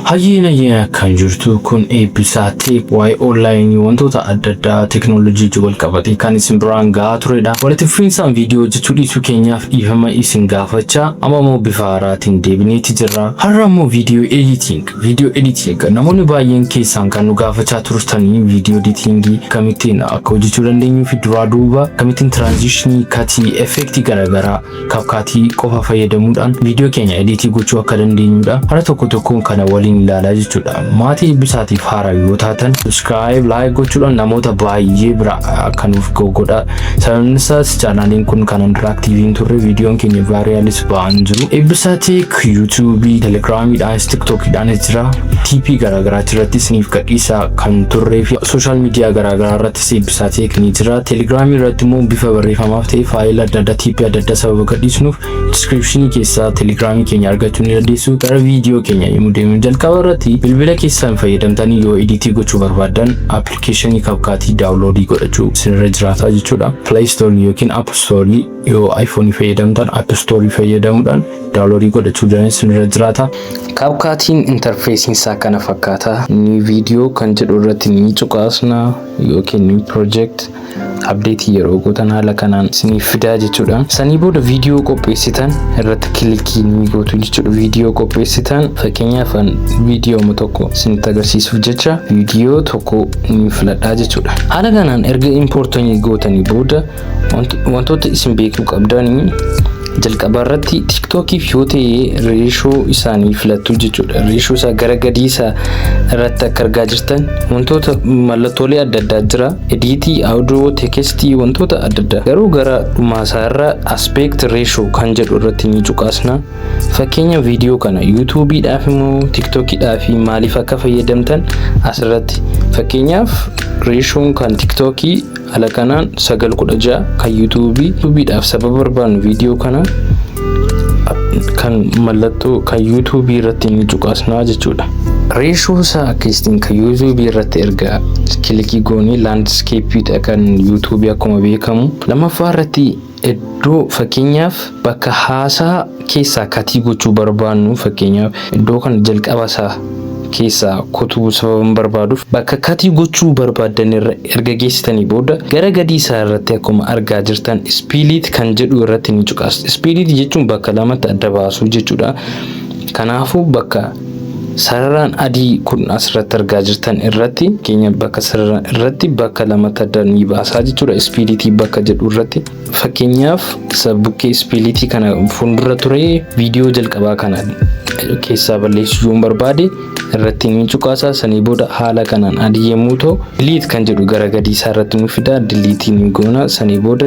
Hayyee nayyee akkam jirtu kun eebbisaa teek waa'ee onlaayinii wantoota adda addaa teeknoolojii wajjin wal qabatee kan isin biraan gahaa turedha. Walitti fufiinsaan viidiyoo hojjechuu dhiisuu keenyaaf dhiifama isin gaafachaa amma immoo bifa haaraatiin deebineeti jirra. Har'a immoo viidiyoo editing viidiyoo editing namoonni baay'een keessaan kan nu gaafachaa turtanii viidiyoo editingii akkamittiin akka hojjechuu dandeenyuu fi duraa duuba akkamittiin tiraanzishinii katii effeektii garaagaraa Kapkaatii qofa fayyadamuudhaan viidiyoo keenya ediitii gochuu akka dandeenyudha. Hara tokko tokkoon kana waliin ilaalaa jechuudha. Maatii Eebbisaatiif haaraa yoo taatan subscribe, like gochuudhaan namoota baay'ee bira akka nuuf ga'u godha. Sababni isaas chaanaaliin kun kanaan dura aktiivii hin turre viidiyoon keenya vaariyaalis ba'aa hin jiru. Eebbisaa Teek yuutuubii, telegiraamiidhaanis tiktookiidhaanis jira. TP garaagaraatti irratti isiniif gadhiisaa kan turree fi sooshaal miidiyaa garaagaraa irratti Sibsatick ni jira. Telegram irratti immoo bifa barreeffamaaf ta'e faayila adda addaa tiippii adda addaa sababa gadhiisnuuf description keessaa Telegram keenya argachuu ni dandeessu. Gara viidiyoo keenya yommuu deemnu jalqaba irratti bilbila keessan fayyadamtanii yoo editii gochuu barbaaddan application kapkaatii daawunloodii godhachuu isinirra jiraata jechuudha. Play Store yookiin App Store Yoo iPhone fayyadamtan App Store fayyadamuudhaan daawunloodii godhachuu dandeenyu sinirra jiraata. Kaapkaatiin intarfeesiin isaa kana fakkaata. New video kan jedhu irratti ni cuqaasna yookiin new project abdeetii yeroo gootan haala kanaan isiniif fidaa jechuudha. Sanii booda viidiyoo qopheessitan irratti kilikii ni gootu jechuudha. Viidiyoo qopheessitan fakkeenyaaf an viidiyooma tokko isinitti agarsiisuuf jecha viidiyoo tokko ni filadhaa jechuudha. Haala kanaan erga importanii gootanii booda Wantoota isin beekuu qabdan jalqaba irratti tiiktookiif yoo ta'e reeshoo isaanii filattu jechuudha. Reeshoo isaa gara gadii isaa irratti akka argaa jirtan wantoota mallattoolee adda addaa jira. Ediitii, audio, teekestii wantoota adda addaa. Garuu gara dhumaa isaa irra aspect ratio kan jedhu irratti ni cuqaasna. Fakkeenya viidiyoo kana yuutuubiidhaaf immoo tiiktookiidhaaf maaliif akka fayyadamtan asirratti fakkeenyaaf reeshoon kan tiiktookii Haala kanaan sagal kudha ja'a kan yuutuubii yuutuubiidhaaf sababa barbaannu viidiyoo kana kan mallattoo kan yuutuubii irratti ni cuqaasnaa jechuudha. Reeshoo isaa akka ittiin kan yuutuubii irratti erga kilikii goonee laandiskeeppiidha kan yuutuubii akkuma beekamu. Lammaffaa irratti Iddoo fakkeenyaaf bakka haasaa keessaa katii gochuu barbaannu fakkeenyaaf iddoo kana jalqaba isaa keessaa kutuu sababan barbaaduuf bakka katii gochuu barbaaddan irra erga geessitanii booda gara gadii isaa irratti akkuma argaa jirtan ispiiliit kan jedhu irratti ni cuqaastu. Ispiiliit jechuun bakka lamatti adda baasuu jechuudha. Kanaafuu bakka Sararaan adii kun asirratti argaa jirtan irratti keenya bakka sarara irratti bakka lama tadda ni baasaa jechuudha. Ispiilitii bakka jedhu irratti fakkeenyaaf isa bukkee ispiilitii kana fuuldura ture viidiyoo jalqabaa kana keessaa balleessuu yoon barbaade irratti ni cuqaasa sanii booda haala kanaan adii yommuu ta'u Delete kan jedhu gara gadii isaa irratti nu fida diliitii ni goona sanii booda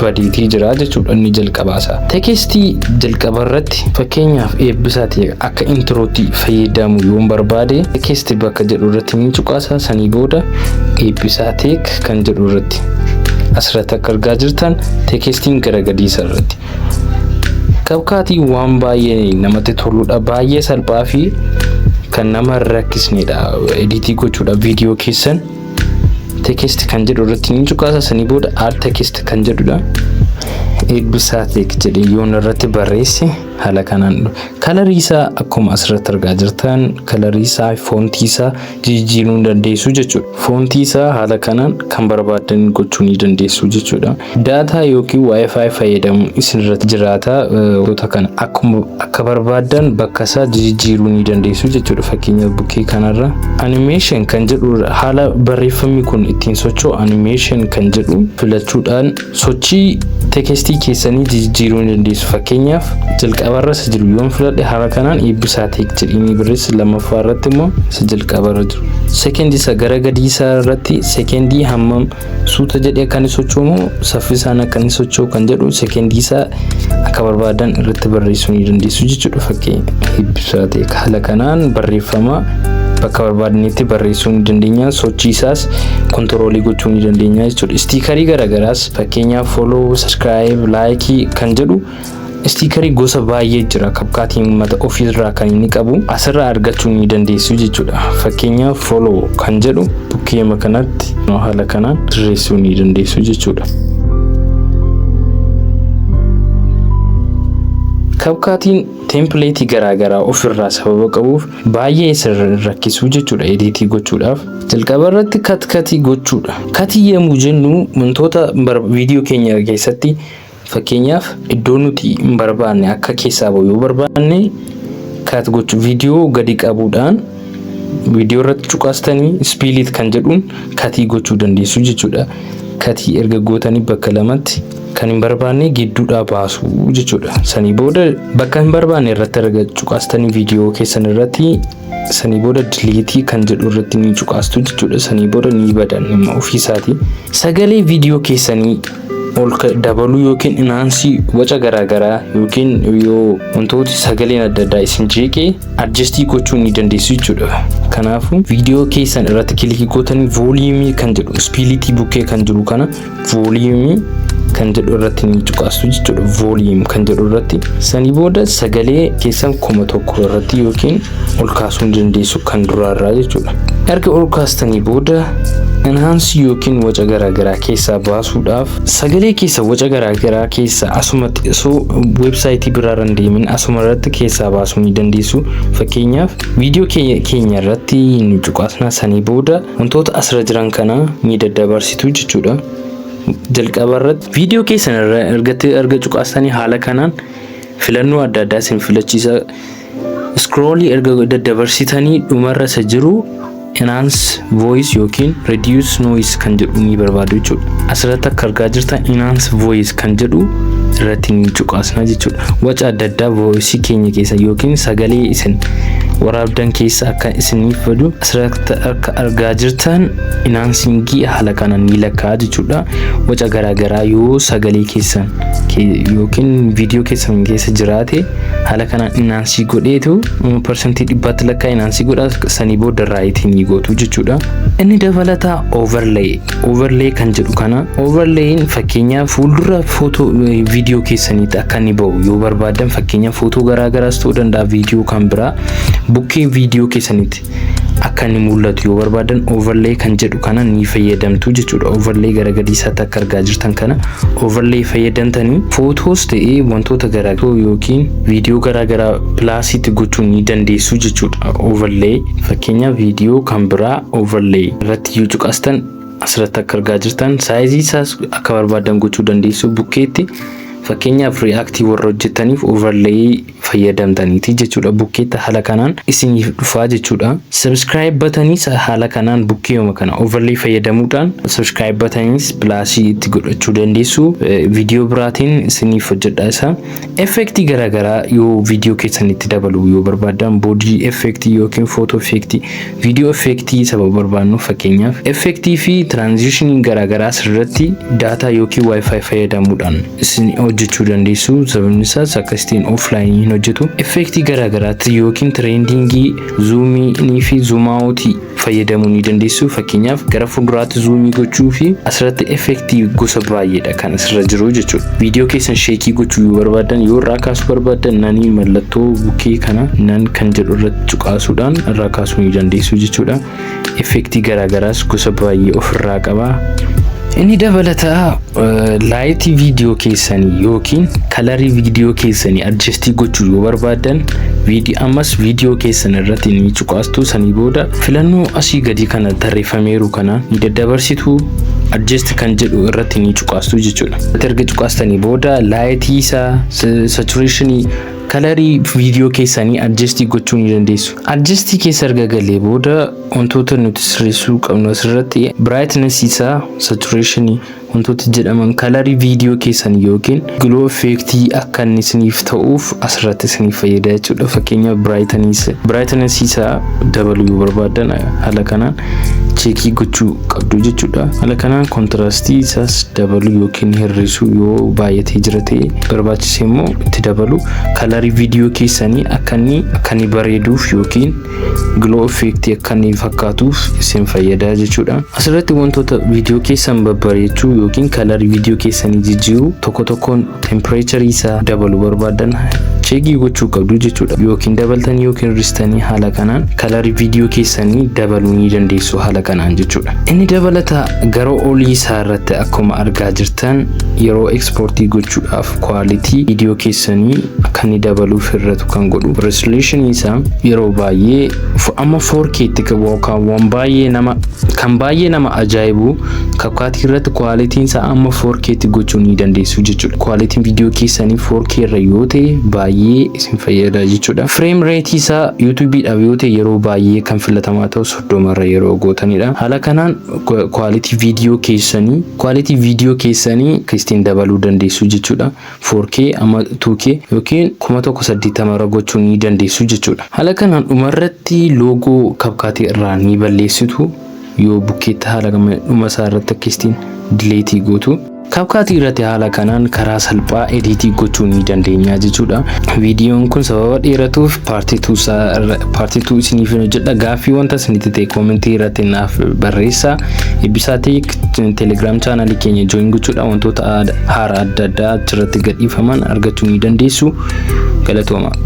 badeetii jira jechuudha inni jalqabaa isaa. Tekestii jalqaba irratti fakkeenyaaf eebbisaati akka intirootti fayyadamu yoon barbaade tekesti bakka jedhu irratti ni cuqaasa sanii booda eebbisaa teek kan jedhu irratti asirratti akka argaa jirtan tekestiin gara gadii isaa irratti. Qabkaatiin waan baay'ee namatti toludha. Baay'ee salphaa fi kan nama hin rakkisnedha. Ediitii gochuudha viidiyoo keessan. Teekist kan jedhu irratti ni cuqaasa sanii booda al teekist kan jedhudha. Eebbisaa teek jedhee yoon irratti barreesse haala kanaan kalarii isaa akkuma asirratti argaa jirtan kalarii isaa foontii isaa jijjiiruu ni dandeessu jechuudha. Foontii isaa haala kanaan kan barbaaddan gochuu ni dandeessu jechuudha. Daataa yookiin Wi-Fi fayyadamuun isin irratti jiraata. Wantoota kana akkuma akka barbaaddan bakka isaa jijjiiruu ni dandeessu jechuudha. Fakkeenyaaf bukkee kanarra animation kan jedhu haala barreeffamni kun ittiin socho'u animation kan jedhu filachuudhaan sochii teekestii keessanii jijjiiruu ni dandeessu. Fakkeenyaaf jalqabarra isa jiru yoon filadhe haala kanaan eebbisaa teek jedhanii barreessa. Lammaffaa irratti immoo isa jalqabarra jiru. Seekendii isa gara gadii isaa irratti seekendii hammam suuta jedhee akka inni socho'u moo saffisaan akka inni socho'u kan jedhu sekeendii isaa akka barbaadan irratti barreessuu ni dandeessu jechuudha fakkeenya. Ibsaa ta'e haala kanaan barreeffama bakka barbaadanitti barreessuu ni dandeenya sochii isaas kontiroolii gochuu ni dandeenya jechuudha. Istiikarii garaagaraas fakkeenyaaf follow, subscribe, like kan jedhu Istiikarii gosa baay'ee jira. Kapkaatiin uummata ofiirraa kan inni qabu asirraa argachuu ni dandeessu jechuudha. Fakkeenyaaf follow kan jedhu bukkeema kanatti haala kanaan sirreessuu ni dandeessu jechuudha. Kapkaatiin teempileetii garaagaraa ofirraa sababa qabuuf baay'ee sirri rakkisuu jechuudha ediitii gochuudhaaf. Jalqaba irratti kat katii gochuudha. Katii yemmuu jennu wantoota viidiyoo keenya keessatti Fakkeenyaaf iddoo nuti hin barbaanne akka keessaa ba'u yoo barbaanne kaat gochuu viidiyoo gadi qabuudhaan viidiyoo irratti cuqaastanii ispeeliit kan jedhuun katii gochuu dandeessu jechuudha. Katii erga gootanii bakka lamatti kan hin barbaanne gidduudhaa baasu jechuudha. Sanii booda bakka hin barbaanne irratti erga cuqaastanii viidiyoo keessan irratti sanii booda diliitii kan jedhu irratti ni cuqaastu jechuudha. Sanii booda ni badan ofiisaatii. Sagalee viidiyoo keessanii ol dabaluu yookiin inaansii waca garaagaraa yookiin yoo wantooti sagaleen adda addaa isin jeeqee adjastii gochuu ni dandeessu jechuudha. Kanaafuu viidiyoo keessan irratti kilikii gootanii vooliimii kan jedhu ispiilitii bukkee kan jiru kana vooliimii kan jedhu irratti ni cuqaastu jechuudha. Vooliim kan jedhu irratti sanii booda sagalee keessan kuma tokko irratti yookiin ol kaasuu ni dandeessu kan duraarraa jechuudha. Erga ol kaastanii booda enhance yookiin waca garaagaraa keessaa baasuudhaaf sagalee keessa waca garaagaraa keessa asumatti osoo weebsaayitii biraarra hin deemin asuma irratti keessaa baasuu ni dandeessu. Fakkeenyaaf viidiyoo kee- keenya irratti nu cuqaasnaa sanii booda wantoota asirra jiran kana ni daddabarsitu jechuudha. Jalqaba irratti viidiyoo keessan irra erga erga cuqaastanii haala kanaan filannoo adda addaa isin filachiisa. Scroll erga daddabarsitanii dhumarra isa jiru enhance voice yookiin reduce noise kan jedhu ni barbaadu jechuudha. Asirratti akka argaa jirtan enhance voice kan jedhu irratti ni cuqaasna jechuudha. Waca adda addaa voice keenya keessa yookiin sagalee isin waraabdan keessa akka isiniif badu asirratti akka argaa jirtan enhancingii haala kanaan ni lakkaa jechuudha. Waca garaagaraa yoo sagalee keessan yookiin viidiyoo keessan keessa jiraate haala kanaan inaansii godheetu parsantii dhibbaatti lakkaa inaansii godha sanii booda raayitii ni gootu jechuudha. Inni dabalataa overlay overlay kan jedhu kana overlayin fakkeenyaaf fuuldura footoo viidiyoo keessaniitti akka inni ba'u yoo barbaadan fakkeenyaaf footoo garaagaraas ta'uu danda'a viidiyoo kan biraa bukkee viidiyoo keessaniitti akka inni mul'atu yoo barbaadan overlay kan jedhu kana ni fayyadamtu jechuudha. Overlay gara gadiisaatti akka argaa jirtan kana overlay fayyadamtanii footoos ta'ee wantoota garaagaraa yookiin viidiyoo garaagaraa pilaasiitti gochuu ni dandeessu jechuudha. Overlay fakkeenya viidiyoo kan biraa overlay irratti yoo cuqastan asirratti akka argaa jirtan saayizii isaas akka barbaadan gochuu dandeessu bukkeetti fakkeenyaaf ri'aaktii warra hojjetaniif overlay fayyadamtaniiti jechuudha bukkeetti haala kanaan isiniif dhufaa jechuudha subscribe bataniis haala kanaan bukkeeyuma kana overlay fayyadamuudhaan subscribe bataniis pilaasii itti godhachuu dandeessu viidiyoo biraatiin isiniif hojjedha isa effektii garaagaraa yoo viidiyoo keessan itti dabaluu yoo barbaaddan boodii effektii yookiin footoo effektii Viidiyoo effeektii sababa barbaannuuf fakkeenyaaf effeektii fi tiraanzishinii garaagaraa asirratti daataa yookiin wifi fayyadamuudhaan isin hojjechuu dandeessu sababni isaas akkasitiin offline hin hojjetu effeektii garaagaraatti yookiin tireendingii zuumii fi zuumaawutii fayyadamuu ni dandeessu fakkeenyaaf gara fuulduraatti zuumii gochuu fi asirratti effeektii gosa baay'eedha kan asirra jiru jechuudha. Viidiyoo keessan sheekii gochuu yoo barbaaddan yoo irraa kaasuu barbaaddan nanii mallattoo bukkee kana nan kan jedhu irratti cuqaasuudhaan irraa kaasuu ni dandeessu jechuudha. Effektii garaagaraas gosa baay'ee ofirraa qaba. Inni dabalataa laayitii viidiyoo keessanii yookiin kalarii viidiyoo keessanii adjastii gochuu yoo barbaaddan ammas viidiyoo keessan irratti ni cuqaastu sanii booda filannoo asii gadii kana tarreeffameeru kana ni daddabarsitu. adjust kan jedhu irratti ni cuqaastu jechuudha. Irratti erga cuqaastanii booda laayitii isaa, saturation, kalarii viidiyoo keessanii adjust gochuu ni dandeessu. Adjust keessa erga galee booda wantoota nuti sirreessuu qabnu asirratti brightness isaa, saturation, wantoota jedhaman kalarii viidiyoo keessanii yookiin Gloo effeektii akka inni isiniif ta'uuf asirratti isiniif fayyada jechuudha. Fakkeenyaaf biraayitanis isaa dabaluu yoo barbaaddan haala kanaan cheekii gochuu qabdu jechuudha. Haala kanaan kontiraastii isaas dabaluu yookiin hir'isuu yoo baay'atee jira ta'e barbaachise immoo itti dabaluu kalarii viidiyoo keessanii akka inni akka inni bareeduuf yookiin Gloo effect akka inni fakkaatuuf isin fayyada jechuudha. Asirratti wantoota viidiyoo keessan babbareechuu yookiin kalar viidiyoo keessanii jijjiiruu tokko tokkoon temperature isaa dabalu barbaadan cheegii gochuu qabdu jechuudha. Yookiin dabaltanii yookiin hir'istanii haala kanaan kalar viidiyoo keessanii dabaluu ni dandeessu haala kanaan jechuudha. Inni dabalata gara olii isaa irratti akkuma argaa jirtan yeroo ekspoortii gochuudhaaf quality video keessanii akka inni dabaluuf hir'atu kan godhu resolution isaa yeroo baay'ee f- amma 4K itti qabu yookaan waan baay'ee nama kan baay'ee nama ajaa'ibu kakaatii irratti quality isaa amma 4K itti gochuu ni dandeessu jechuudha quality video keessanii 4K irra yoo ta'e baay'ee isin fayyada jechuudha frame rate isaa YouTube dhaaf yoo ta'e yeroo baay'ee kan filatamaa ta'u 30 irra yeroo gootanidha haala kanaan quality video keessanii quality video keessanii kristiin dabaluu dandeessu jechuudha 4K amma 2K yookiin 1080 irra gochuu ni dandeessu jechuudha haala kanaan dhumarratti loogoo kapkaatii irraa ni balleessitu yoo bukkeetti haala dhuma isaa irratti akkasitiin dileetii gootu CapCut irratti haala kanaan karaa salphaa ediitii gochuu ni dandeenya jechuudha. Viidiyoon kun sababa dheeratuuf paartii tuu isaa irra- paartii tuu isiniif hin hojjedha. Gaaffii wanta isinitti ta'e koomentii irratti naaf barreessaa. Eebbisaa Teek Telegram chaanaalii keenya join gochuudha. Wantoota aad- haaraa adda addaa achirratti gadhiifaman argachuu ni dandeessu. Galatooma.